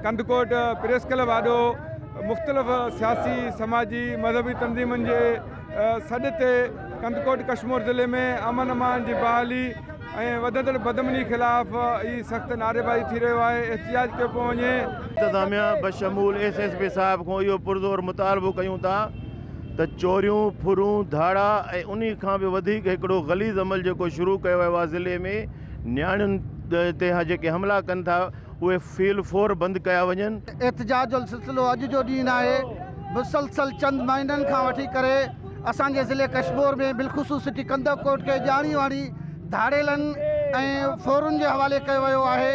Kandhkot press club آڏو مختلف سياسي، سماجي، مذهبي تنظيمن جي سڏ تي ڪنڌڪوٽ ڪشمور ضلعي ۾ امن امان جي بحالي ۽ وڌندڙ بدامني خلاف ئي سخت نعريبازي ٿي رهيو آهي احتجاج ڪيو پيو وڃي. انتظاميا بشمول ايس ايس پي صاحب کان اهو پرزور مطالبو ڪيون ٿا ته چوريون، ڦرون، ڌاڙا ۽ انهي کان به وڌيڪ هڪڙو غليظ عمل جيڪو شروع ڪيو ويو آهي ضلعي ۾ نياڻين تي جيڪي حملا ڪن ٿا، اهي فعل فور بند ڪيا وڃن. احتجاج جو سلسلو اڄ جو ڏينهن ناهي، مسلسل چند مهينن کان وٺي ڪري اسان جي ضلعي ڪشمور ۾ بالخصوص سٽي ڪنڌڪ ڪوٽ کي ڄاڻي واڻي ڌاڙيلن ۽ ڦورن جي حوالي ڪيو ويو آهي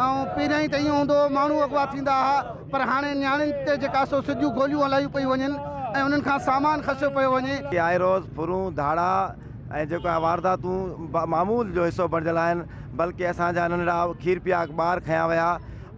۽ پهريائين ته ائين هوندو هو ماڻهو اغوا ٿيندا ها پر هاڻي نياڻين تي جيڪا سو سڄيون گوليون هلايون پيون وڃن ۽ انهن کان سامان کسيو پيو وڃي. آئي روز ڦرون ڌاڙا ۽ جيڪو آهي وارداتون معمول جو حصو بڻجل آهن بلڪه اسانجا ننڍڙا کير پيا ٻار کنيا ويا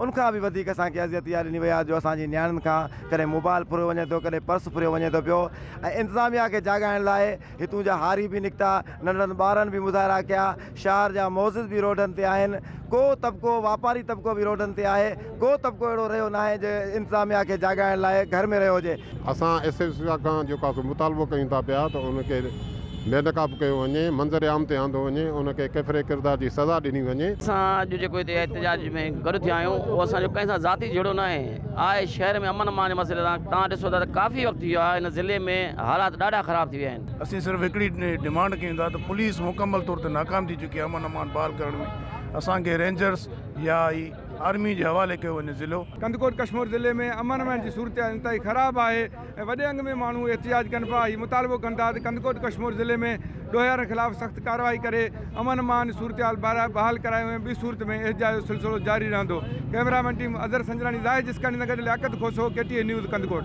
ان کان به وڌيڪ اسانکي اذيت اها ڏني وئي آهي جو اسانجي نياڻين کان ڪڏهن موبائل ڦريو وڃي ٿو ڪڏهن پرس ڦريو وڃي ٿو پيو ۽ انتظاميا کي جاڳائڻ لاء هتون جا هاري به نڪتا ننڍڙن ٻارن به مظاهرا ڪيا شهر جا معزز به روڊن تي آهن، ڪو طبقو واپاري طبقو به روڊن تي آهي، ڪو طبقو اهڙو رهيو ناهي جو انتظاميا کي جاڳائڻ لاء گهر ۾ رهيو هجي. اسان ايس ايس سي کان جيڪا سو مطالبو ڪيون ٿا پيا ته ان کي بي نقاب ڪيو وڃي، منظر عام تي آندو وڃي، ان کي ڪيفر ڪردار جي سزا ڏني وڃي. اسان اڄ جيڪو هتي احتجاج ۾ گڏ ٿيا آهيون اهو اسان جو ڪنهن سان ذاتي جهيڙو ناهي، آء شهر ۾ امن امان جي مسئلي سان توهان ڏسو ٿا ته ڪافي وقت ٿي ويو آهي هن ضلعي ۾ حالات ڏاڍا خراب ٿي ويا آهن، اسين صرف هڪڙي ڊمانڊ ڪيون ٿا ته پوليس مڪمل طور تي ناڪام ٿي چڪي آهي امن امان بحال ڪرڻ ۾ اسان کي رينجرز يا هي آرمي جي حوالي ڪيو وڃي ضلعو ڪنڌڪوٽ ڪشمور ضلعي ۾ امن امان جي صورتحال انتهائي خراب آهي ۽ وڏي انگ ۾ ماڻهو احتجاج ڪن پيا هي مطالبو ڪن ٿا ته ڪنڌڪوٽ ڪشمور ضلعي ۾ ڏوهيارن خلاف سخت ڪارروائي ڪري امن امان جي صورتحال بحال ڪرايو وڃي ٻي صورت ۾ احتجاج جو سلسلو جاري رهندو camera man team Azhar Sanjrani Zahid Jaskani سان گڏ Liaquat Khoso K T N news Kandhkot.